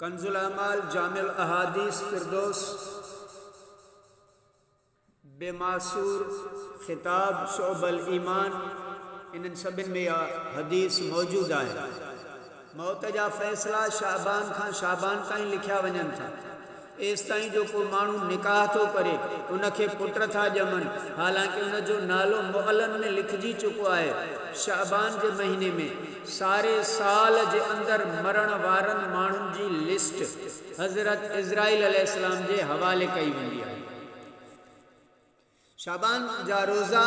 ڪنزالاعمال جامع الاحاديث فردوس به معصور خطاب شعب الايمان انهن سڀن ۾ اها حديث موجود آهي موت جا فيصلا شعبان کان شعبان تائين لکيا وڃن ٿا ايستائين جو ڪو ماڻهو نڪاح ٿو ڪري، ان کي پٽ ٿا ڄمن، حالانڪه ان جو نالو معلن ۾ لکجي چڪو آهي. شعبان جي مهيني ۾ ساري سال جي اندر مرڻ وارن ماڻهن جي لسٽ حضرت عزرائيل عليه السلام جي حوالي ڪئي ويندي آهي. شعبان جا روزا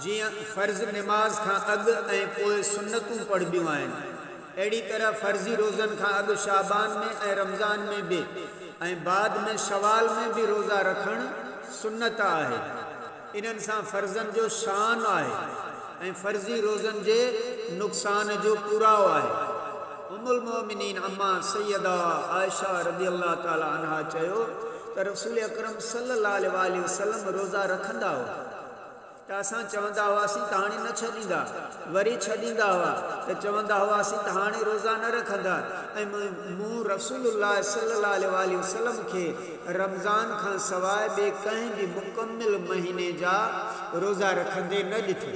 جيئن فرض نماز کان اڳ ۽ پوء سنتون پڙهبيون آهن، اهڙي طرح فرضي روزن کان اڳ شعبان ۾ ۽ رمضان ۾ به ۽ بعد ۾ شوال ۾ به روزا رکڻ سنت آهي. انهن سان فرضن جو شان آهي ۽ فرضي روزن جي نقصان جو پورائو آهي. ام المؤمنين امّا سيده عائشه رضي الله تعالٰي عنها چيو ته رسول اڪرم صلّي الله عليه واٰله وسلّم روزا رکندا هئا ته اسان چوندا هئاسين ته هاڻي نه ڇڏيندا وري ڇڏيندا هئا ته چوندا هئاسين ته هاڻي روزا نه رکندا ۽ مون رسول الله صلّي الله عليه واٰله وسلّم کي رمضان کان سواء ٻي ڪنهن به مڪمّل مهيني جا روزا رکندي نه ڏٺو.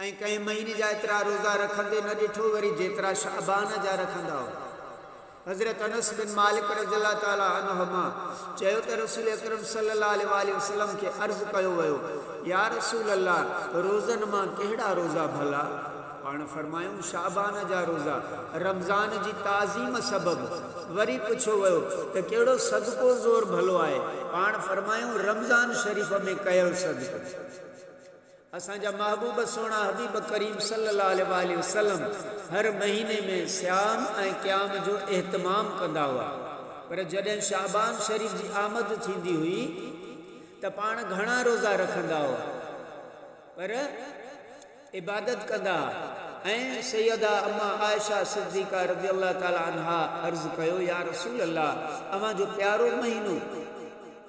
۽ ڪنهن مهيني جا ايترا روزا رکندي نه ڏٺو وري جيترا شعبان جا رکندا هئا. حضرت انس بن مالڪ رضي الله تعالٰي عنهما چيو ته رسول اڪرم صلي الله عليه واٰله وسلم کي عرض ڪيو ويو، يا رسول الله روزن مان ڪهڙا روزا ڀلا؟ پاڻ فرمايائون شعبان جا روزا رمضان جي تعظيم سبب. وري پڇيو ويو ته ڪهڙو صدقو زور ڀلو آهي؟ پاڻ فرمايائون رمضان شريف ۾ ڪيل صدقو. اسان جا محبوب سهڻا حبيب ڪريم صلي الله عليه واٰله وسلم هر مهيني ۾ صيام ۽ قيام جو اهتمام ڪندا هئا پر جڏهن شعبان شريف جي آمد ٿيندي هئي ته پاڻ گهڻا روزا رکندا هئا پر عبادت ڪندا ها ۽ سيده امّا عائشه صديقه رضي الله تعالٰي عنها عرض ڪيو يا رسول الله اوهان جو پيارو مهينو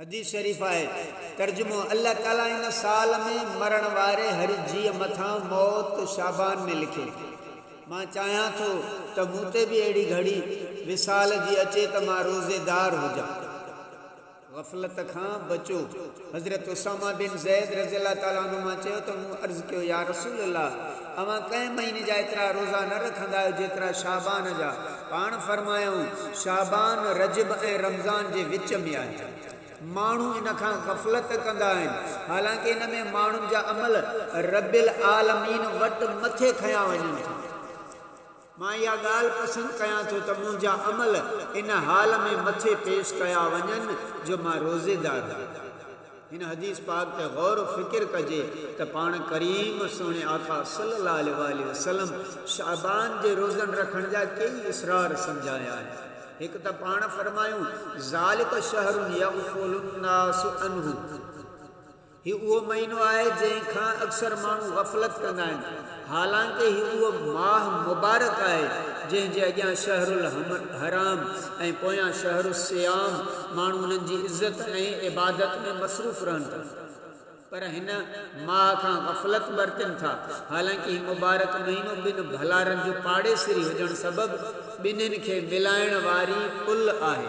حديث شريف آهي، ترجمو، الله تعاليٰ ان سال ۾ مرڻ واري هر جيء مٿان موت شعبان ۾ لکي. مان چاهيان ٿو ته مون تي به اهڙي گهڙي وصال جي اچي ته مان روزيدار هجان. غفلت کان بچو. حضرت اسامه بن زيد رضي الله تعالٰي عنهما چيو ته مون عرض ڪيو يا رسول الله! اوهان ڪنهن مهيني جا ايترا روزا نه رکندا آهيو جيترا شعبان جا، پاڻ فرمايائون، شعبان، رجب ۽ رمضان جي وچ ۾ آهي. ماڻهو ان کان غفلت ڪندا آهن، حالانڪه ان ۾ ماڻهن جا عمل رب العالمين وٽ مٿي کنيا وڃن ٿا. مان اها ڳالهه پسند ڪيان ٿو ته منهنجا عمل ان حال ۾ مٿي پيش ڪيا وڃن جو مان روزيدار هجان. هن حديث پاڪ تي غور و فڪر ڪجي ته پاڻ ڪريم سهڻي آقا صلي الله عليه واٰله وسلم شعبان جي روزن رکڻ جا ڪيئي اسرار سمجهايا آهن. هڪ ته پاڻ فرمايو، ذٰلڪ شهر يغفل الناس عنه. هي اهو مهينو آهي جنهن کان اڪثر ماڻهو غفلت ڪندا آهن، حالانڪه هي اهو ماهه مبارڪ آهي جنهن جي اڳيان شهر الحرام ۽ پويان شهر الصيام ماڻهو انهن جي عزت ۽ عبادت ۾ مصروف رهن ٿا، پر هن ماهه کان غفلت برتن ٿا، حالانڪه هي مبارڪ مهينو ٻن ڀلارن جو پاڙيسري هجڻ سبب ٻنهين کي ملائڻ واري پل آهي.